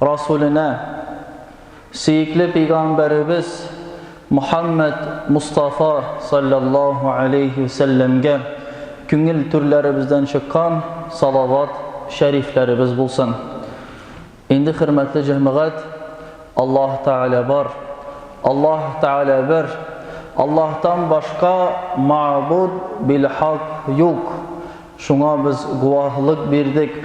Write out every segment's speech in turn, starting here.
Расулена, сөекле пәйгамбәребез Мухаммәд Мустафа салләллаһу галәйһи вә сәлләмгә күңел түрләребездән чыккан салават шәрифләребез булсын. Инде, хөрмәтле җәмәгать, Аллаһ Тәгалә бар, Аллаһ Тәгалә бер, Аллаһтан башка мәгъбуд бил-хак юк, шуңа без гуаһлык бирдек.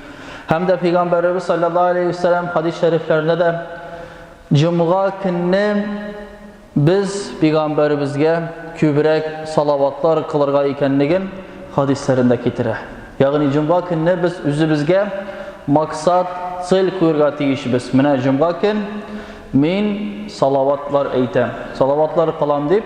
Һәм дә Пәйгамбәребез саллаллаһу алейһи ва сәлләм хадис шәрифләрендә дә җомга көнне без Пәйгамбәребезгә күбрәк салаватлар кылырга икәнлеген хадисләрендә китерә. Ягъни җомга көнне без үзебезгә максат, цель куярга тиешбез. Менә җомга көн мин салаватлар әйтәм, салаватлар кылам дип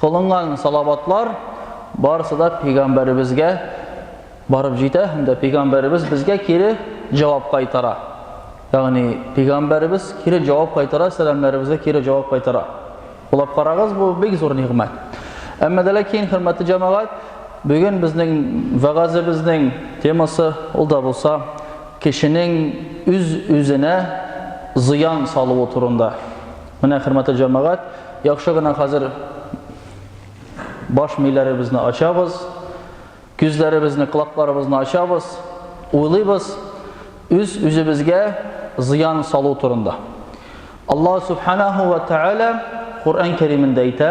Кылынган салаватлар барысы да пәйгамбәребезгә барып җитә һәм дә пәйгамбәребез безгә кире җавап кайтара. Ягъни пәйгамбәребез кире җавап кайтара, сәламнәребезгә кире җавап кайтара. Уйлап карагыз, бу бик зур нигъмәт. Әмма дә ләкин, хөрмәтле җәмәгать, бүген безнең вәгазебезнең темасы ул да булса кешенең үз-үзенә зыян салуы турында. Менә хөрмәтле җәмәгать, яхшы гына хәзер баш миләребезне ачабыз, күзләребезне, колакларыбызны ачабыз, уйлыйбыз үз үзебезгә зыян салу турында. Аллаһ субханаһу ва тааля Коръән Кәримендә әйтә,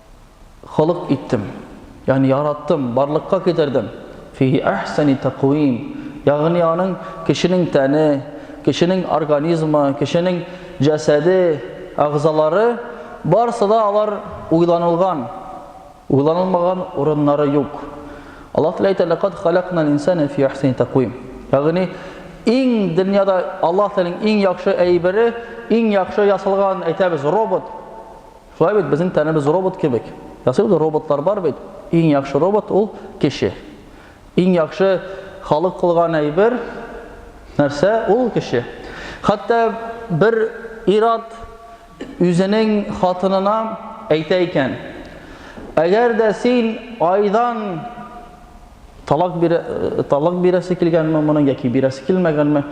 холык иттем, ягъни яраттым, барлыкка китердем. Фиһи әхсәни тәкъвим, ягъни аның кешенең тәне, кешенең организмы, кешенең җәсәде, әгъзалары, барысы да алар уйланылган, уйланылмаган урыннары юк. Аллаһ Тәгалә әйтә, Ләкад халакнал инсана фи әхсәни тәкъвим. Ягъни иң дөньяда Аллаһ Тәгаләнең иң яхшы әйбере, иң яхшы ясалган, әйтәбез, робот. Шулай бит, безнең тәнебез робот кебек. Ясый ул роботлар бар бит. Иң яхшы робот ул кеше. Иң яхшы халык кылган әйбер нәрсә ул кеше. Хәтта бер ират үзенең хатынына әйтә икән. Әгәр дә син айдан талак бирә, э, талак бирәсе килгәнме моның яки бирәсе килмәгәнме?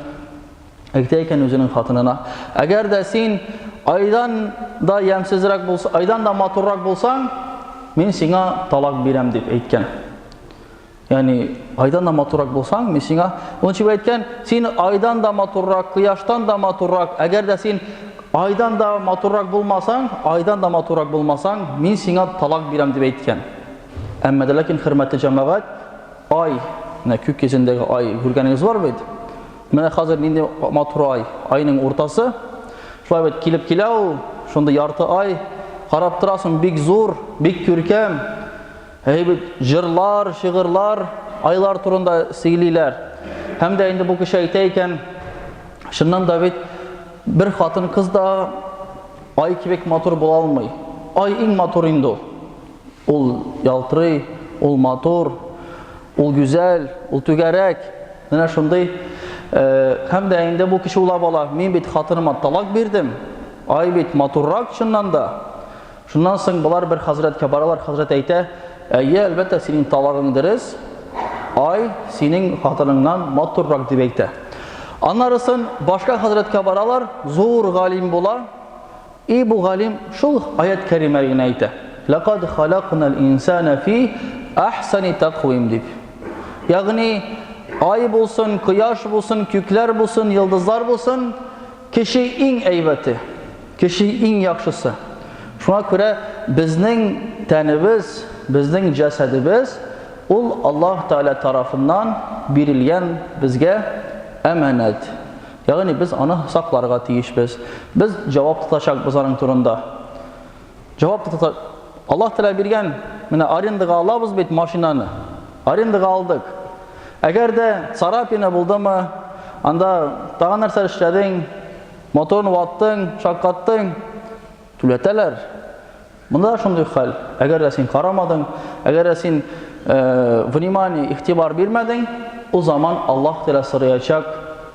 Әйтә икән үзенең хатынына, әгәр дә син айдан да ямсезрәк булса, айдан да матуррак булсаң, мин сиңа талак бирәм дип әйткән. Ягъни айдан да матуррак булсаң, мин сиңа ул чип әйткән, син айдан да матуррак, кояштан да матуррак, әгәр дә син айдан да матуррак булмасаң, айдан да матуррак булмасаң, мин сиңа талак бирәм дип әйткән. Әмма дә ләкин хөрмәтле җәмәгать, ай, менә күк йөзендәге ай, күргәнегез бар бит? Менә хәзер нинди матур ай, айның уртасы. Шулай бит килеп килә ул, шундый ярты ай. Карап торасың, бик зур, бик күркәм. Әй бит җырлар, шигырьләр айлар турында сөйлиләр. Һәм дә инде бу кеше әйтә икән, чыннан да бит бер хатын-кыз да ай кебек матур була алмый. Ай иң матур инде ул. Ул ялтырый, ул матур, ул гүзәл, ул түгәрәк. Менә шундый. Һәм дә инде бу кеше уйлап ала, мин бит хатыныма талак бирдем. Ай бит матуррак чыннан да. Шуннан соң болар бер хәзрәткә баралар, хәзрәт әйтә, әйе, әлбәттә, синең талагың дөрес. Ай, синең хатыныңнан матуррак дип әйтә. Аннарысын башка хәзрәткә баралар, зур галим була. И бу галим шул аять кәримә генә әйтә, Ләкад халакнал инсана фи ахсани такъвим дип. Ягъни, ай булсын, кояш булсын, күкләр булсын, йолдызлар булсын, кеше иң әйбәте, кеше иң яхшысы. Шуңа күрә безнең тәнебез, безнең җәсәдебез ул Аллаһ Тәгалә тарафыннан бирелгән безгә әманәт. Ягъни без аны сакларга тиешбез. Без җавап тотачакбыз аның турында. Җавап тота Аллаһ Тәгалә биргән, менә арендага алабыз бит машинаны. Арендага алдык. Әгәр дә царапина булдымы, анда тагын нәрсә эшләдең, моторны ваттың, шаккаттың, Түләтәләр. Монда да шундый хәл. Әгәр дә син карамадың, әгәр дә син внимание, игътибар бирмәдең, ул заман Аллаһ Тәгалә сораячак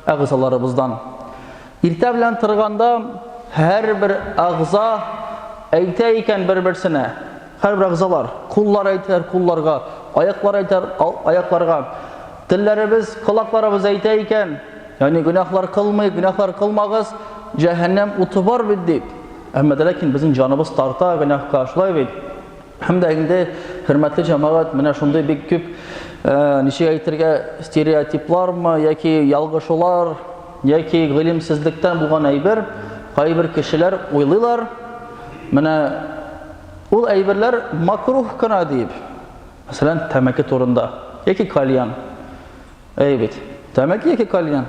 әгъзаларыбыздан. Иртә белән торганда һәрбер әгъза әйтә икән бер-берсенә, Һәрбер әгъзалар, куллар әйтер, кулларга, аяклар әйтер, аякларга. Телләребез, колакларыбыз әйтә икән, ягъни гөнаһлар кылмыйк, гөнаһлар кылмагыз, җәһәннәм уты бар бит дип. Әмма дә ләкин безнең җаныбыз тарта гөнаһка, шулай бит? Һәм дә инде хөрмәтле җәмәгать, менә шундый бик күп, ничек әйтергә, стереотиплармы яки ялгышулар, Яки гыйлемсезлектән булган әйбер, кайбер кешеләр уйлыйлар, менә ул әйберләр макруһ кына дип. Мәсәлән, тәмәке турында, яки кальян. Әйе бит, тәмәке яки кальян.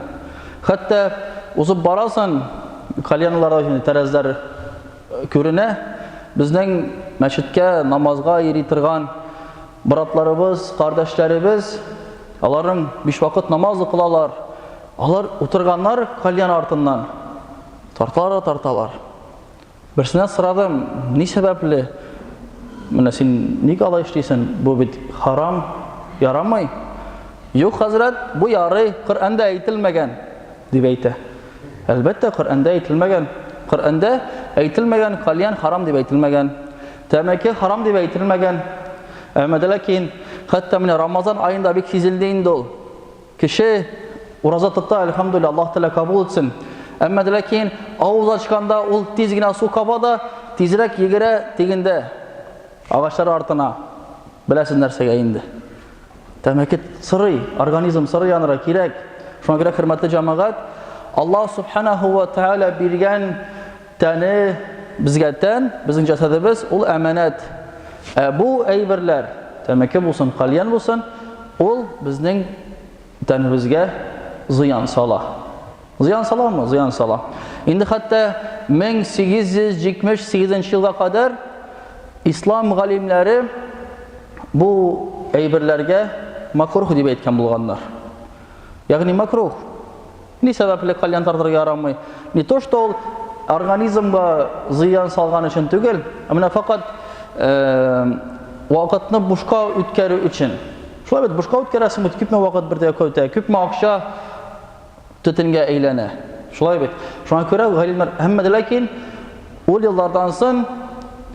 Хәтта узып барасың, кальянлар өчен тәрәзләр күренә. Безнең мәчеткә намазга йөри торган братларыбыз, кардәшләребез, аларның биш вакыт намаз укылалар. Алар утырганнар кальян артыннан. Тарталар да тарталар. Берсенә сорадым, ни сәбәпле? Менә син ник алай эшлисен? Бу бит харам, ярамый. Юк, хәзрәт, бу ярый, Коръәндә әйтелмәгән, дип әйтә. Әлбәттә, Коръәндә әйтелмәгән. Коръәндә әйтелмәгән, кальян харам дип әйтелмәгән. Тәмәке харам дип әйтелмәгән. Әмма дә ләкин, хәтта менә Рамазан аенда бик сизелде инде ул. Кеше ураза тота, әлхәмдүлилләһ, Аллаһ Тәгалә кабул итсен. Әмма дә ләкин авыз ачканда ул тиз генә су каба да, тизрәк йөгерә тегендә агачлар артына. Беләсез нәрсәгә инде? Тәмәке сырый, организм сырый анра кирәк. Шуңа күрә хөрмәтле җәмәгать, Аллаһ Субханаһу ва Тәгалә биргән Тәне безгә тән, безнең җәсәдебез ул әманәт. Ә бу әйберләр, тәмәке булсын, кальян булсын, ул безнең тәнебезгә зыян сала. Зыян саламы? Зыян сала. Инде хәтта 1878 елга кадәр ислам галимнәре бу әйберләргә макрух дип әйткән булганнар. Ягъни макрух Ни сәбәпле кальян тартырга ярамый? Не то что ул организмга зыян салган өчен түгел, ә менә факат вакытны бушка үткәрү өчен. Шулай бит, бушка үткәрәсең бит, күпме вакыт бер дә көтә, күпме акча төтенгә әйләнә. Шулай бит. Шуңа күрә галимнәр һәммә дә ләкин ул еллардан сон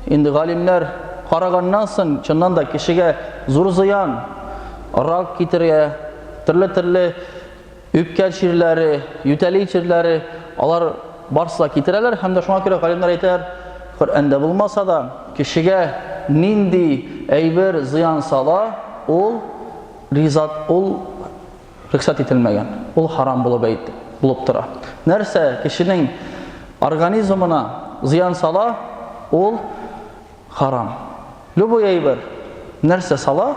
инде галимнәр караганнан сон чыннан да кешегә зур зыян, рак китерә, төрле-төрле Үпкә чирләре, ютәли чирләре, алар барсы да китерәләр һәм дә шуңа күрә галимнәр әйтәләр, Коръәндә булмаса да, кешегә нинди әйбер зыян сала, ул ризат, ул рөхсәт ителмәгән, ул харам булып әйт, булып тора. Нәрсә кешенең организмына зыян сала, ул Харам. Любой әйбер, нәрсә сала,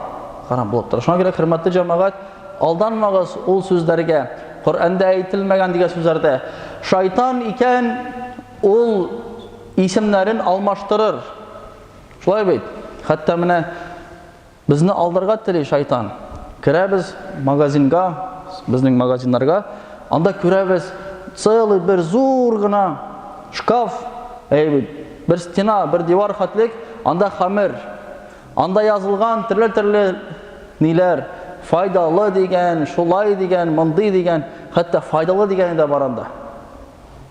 харам булып тора. Шуңа күрә, хөрмәтле җәмәгать, алданмагыз ул сүзләргә. Коръәндә әйтелмәгән дигән сүзләрдә. Шайтан икән, ул исемнәрен алмаштырыр. Шулай бит? Хәтта менә Безне алдарга тели шайтан. Керәбез магазинга, безнең магазиннарга, анда күрәбез, целый бер зур гына шкаф, әй, бер стена, бер дивар хәтлек, анда хәмер. Анда язылган төрле-төрле ниләр, файдалы дигән, шулай дигән, мондый дигән, хәтта файдалы дигәне дә бар анда.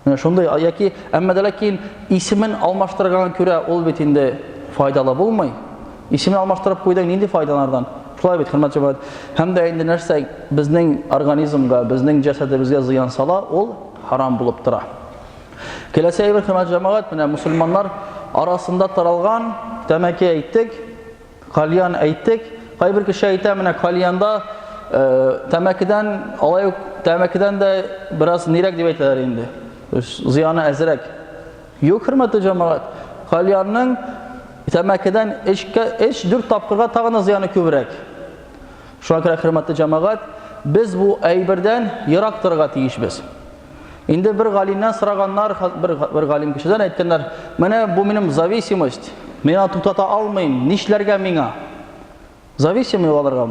Менә шундый яки әмма дә ләкин исемен алмаштырганга күрә ул бит инде файдалы булмый. Исемен алмаштырып куйдың, нинди файдалардан? Шулай бит, хөрмәт җәмәгать. Һәм дә инде нәрсә безнең организмга, безнең җәсәдебезгә зыян сала, ул харам булып тора. Киләсе әйбер, хөрмәт җәмәгать, менә мусульманнар арасында таралган тәмәке әйттек, Кальян әйттек, кайбер кеше әйтә, менә кальянда тәмәкедән, алай ук тәмәкедән дә бераз нирәк дип әйтәләр инде. Зыяны әзрәк. Юк, хөрмәтле җәмәгать. Кальянның тәмәкедән эшкә эш дүрт тапкырга тагын зыяны күбрәк. Шуңа күрә хөрмәтле җәмәгать, без бу әйбердән ерак торырга тиешбез. Инде бер галимнән сораганнар, бер, бер галим кешедән әйткәннәр, менә бу минем зависимость, мин аны туктата алмыйм, нишләргә миңа? Зависимый аларга.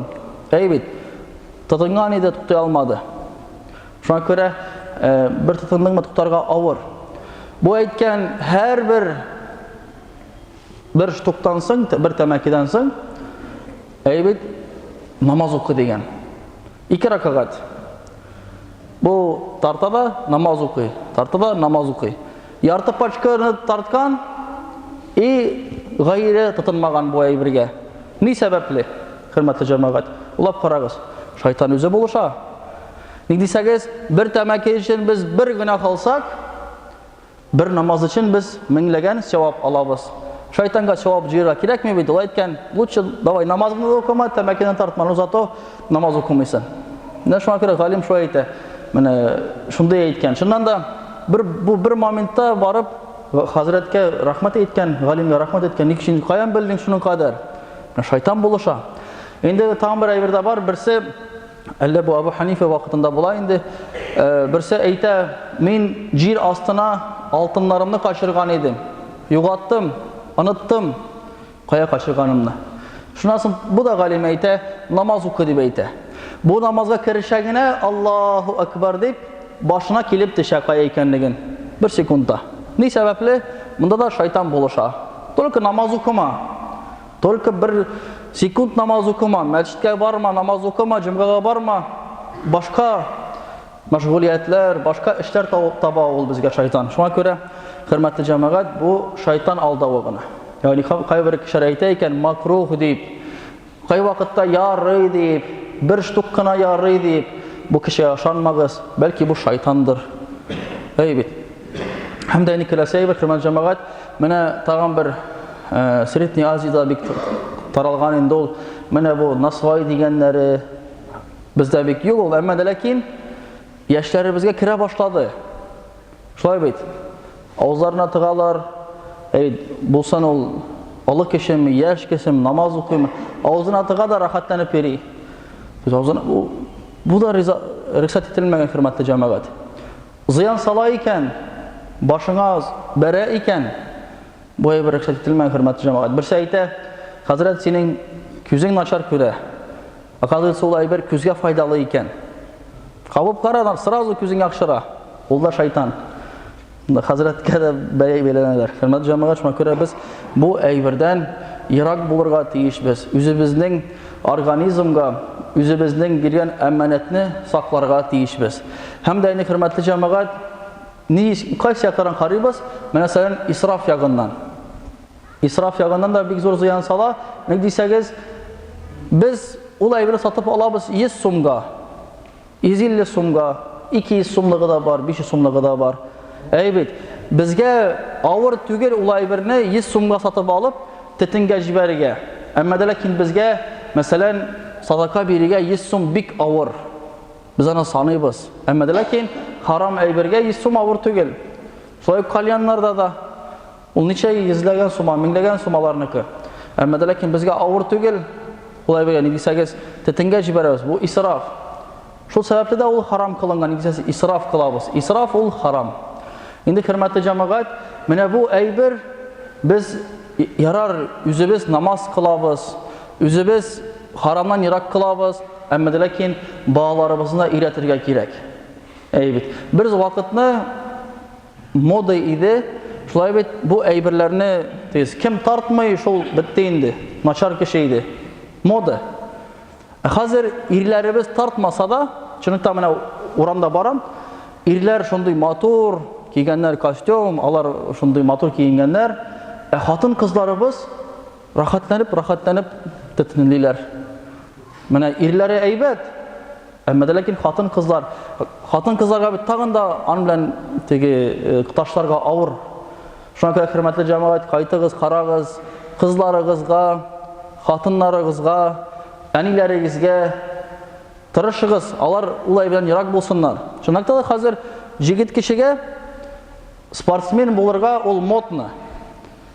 Әй бит, тотынган иде, туктай алмады. Шуңа күрә э, бер тотындыңмы туктарга авыр. Бу әйткән һәрбер бер штуктан соң, бер тәмәкедән соң, әй бит, намаз укы дигән. Ике ракагат. Бу тарта да намаз укый. Тарта да намаз укый. Ярты пачканы тарткан и гайре тотынмаган бу әйбергә. Ни сәбәпле? Хөрмәтле җәмәгать, улап карагыз. Шайтан үзе булыша. Ник дисәгез, бер тәмәке өчен без бер генә халсак, Бер намаз өчен без меңләгән сәвап алабыз. Шайтанга сәвап җыярга кирәкми бит, ул әйткән, лучше давай намазны да укыма, тәмәкене тартма, но зато намаз укымыйсың. Менә шуңа күрә галим шулай әйтә. Менә шундый әйткән. Шуннан да бер бу бер моментта барып хәзрәткә рәхмәт әйткән, галимгә рәхмәт әйткән. Ник син каян белдең шуның кадәр? Шайтан булыша. Инде тагын бер әйбер дә бар. Берсе Әллә бу Абу Ханифа вакытында була инде. Берсе әйтә, мин җир астына алтыннарымны качырган идем. Югаттым, оныттым кая качырганымны. Шуннан соң бу да галим әйтә, намаз укы дип әйтә. Бу намазга керешә генә Аллаһу акбар дип башына килеп төшә кая икәнлеген. Бер секундта. Ни сәбәпле? Монда да шайтан булыша. Только намаз укыма. Только бер секунд намаз укыма, мәчеткә барма, намаз укыма, җомгага барма. Башка мәшгулиятләр, башка эшләр таба ул безгә шайтан. Шуңа күрә, хөрмәтле җәмәгать, бу шайтан алдавы гына. Ягъни кайбер кешеләр әйтә икән, макрух дип, кай вакытта ярый дип, бер штук кына ярый дип, бу кешегә ышанмагыз, бәлки бу шайтандыр. Әй бит. Һәм дә әни Кәләсәева, хөрмәт җәмәгать, менә тагын бер э, Средний Азиядә бик таралган инде ул. Менә бу насвай дигәннәре бездә бик юк ул, әмма дә ләкин яшьләребезгә керә башлады. Шулай бит. Авызларына тыгалар. Әй, булсын ул олы кешеме, яшь кешеме, намаз укыймы, авызына тыга да рәхәтләнеп йөри. Без авызына бу, бу да риза, рөхсәт ителмәгән хөрмәтле җәмәгать. Зыян сала икән, башыңа бәрә икән, бу әйбер рөхсәт ителмәгән, хөрмәтле җәмәгать. Берсе әйтә, хәзрәт, синең күзең начар күрә. Оказывается, ул әйбер күзгә файдалы икән. Кабып кара, сразу күзең яхшыра. Ул да шайтан. Хәзрәткә дә бәя бәйләнәләр. Хөрмәтле җәмәгать, шуңа күрә без бу әйбердән ерак булырга тиешбез. Үзебезнең организмга, үзебезнең биргән әманәтне сакларга тиешбез. Һәм дә инде хөрмәтле җәмәгать, ни кайсы якларын карыйбыз? Менә сәлән исраф ягыннан. Исраф ягыннан да бик зур зыян сала. Ник дисәгез, без ул әйберне сатып алабыз 100 сумга, 150 сумга, 200 сумлыгы да бар, 500 сумлыгы да бар. Әйбит, безгә авыр түгел ул әйберне 100 сумга сатып алып, тетенгә җибәрергә. Әмма дә ләкин безгә, мәсәлән, садака бирергә 100 сум бик авыр. Без аны саныйбыз. Әмма дә ләкин харам әйбергә 100 сум авыр түгел. Шулай ук кальяннарда да ул ничә йөзләгән сума, меңләгән сумаларныкы. Әмма дә ләкин безгә авыр түгел. Ул әйбергә ни дисәгез, тетенгә җибәрәбез. Бу исраф. Шул сәбәпле дә ул харам кылынган, дисәгез, исраф кылабыз. Исраф ул харам. Инде хөрмәтле җәмәгать, менә бу әйбер без ярар үзебез намаз кылабыз, үзебез харамнан ерак кылабыз. Әмма дә ләкин балаларыбызны өйрәтергә кирәк. Әй бит. Бер вакытны мода иде, шулай бит бу әйберләрне тез кем тартмый, шул бетте инде. Начар кеше иде. Мода. Ә хәзер ирләребез тартмаса да, чынлыкта менә урамда барам, ирләр шундый матур кигәннәр костюм, алар шундый матур киенгәннәр, ә хатын-кызларыбыз Рәхәтләнеп-рәхәтләнеп төтенлиләр. Менә ирләре әйбәт, әмма дә ләкин хатын-кызлар, хатын-кызларга бит тагын да ан белән теге э, ташларга авыр. Шуңа күрә хөрмәтле җәмәгать, кайтыгыз, карагыз, кызларыгызга, хатыннарыгызга, әниләрегезгә тырышыгыз, алар улай белән ерак булсыннар. Чынлыкта да хәзер җигет кешегә спортсмен булырга ул модно.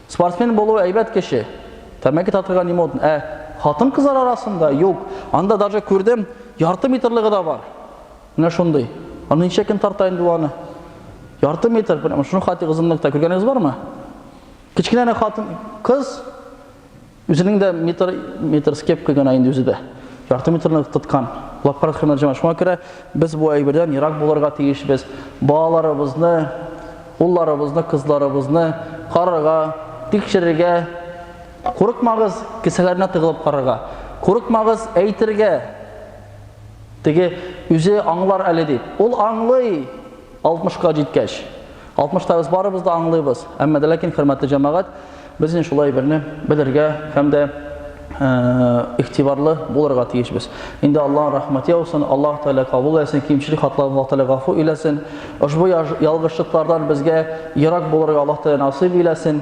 Спортсмен булу әйбәт кеше. Тәмәке татырга не модно. Ә хатын кызлар арасында юк. Анда даже күрдем, ярты метрлыгы да бар. Менә шундый. Аны ничә көн тарта инде ул аны? Ярты метр, прямо шуның хатыгы озынлыкта. Күргәнегез бармы? Кечкенәне хатын, кыз Үзенең дә метр, метр с кепкой гына инде үзе дә. Ярты метрны тоткан. Лапкарат хөрмәт җәмәгать. Шуңа күрә без бу әйбердән ерак булырга тиешбез. Балаларыбызны, улларыбызны, кызларыбызны карарга, тикшерергә, курыкмагыз, кесәләренә тыгылып карарга. Курыкмагыз әйтергә. Теге үзе аңлар әле дип. Ул аңлый! Алтмышка җиткәч, алтмышта без барыбыз да аңлыйбыз, әмма дә ләкин, хөрмәтле җәмәгать, без инде шулай берне белергә һәм дә игътибарлы булырга тиешбез. Инде Аллаһ рәхмәт яусын, Аллаһ Тәгалә кабул итсен, кимчелек хатларын Аллаһ Тәгалә гафу иләсен. Ошбу ялгышлыклардан безгә ерак булырга Аллаһ Тәгалә насыйп иләсен.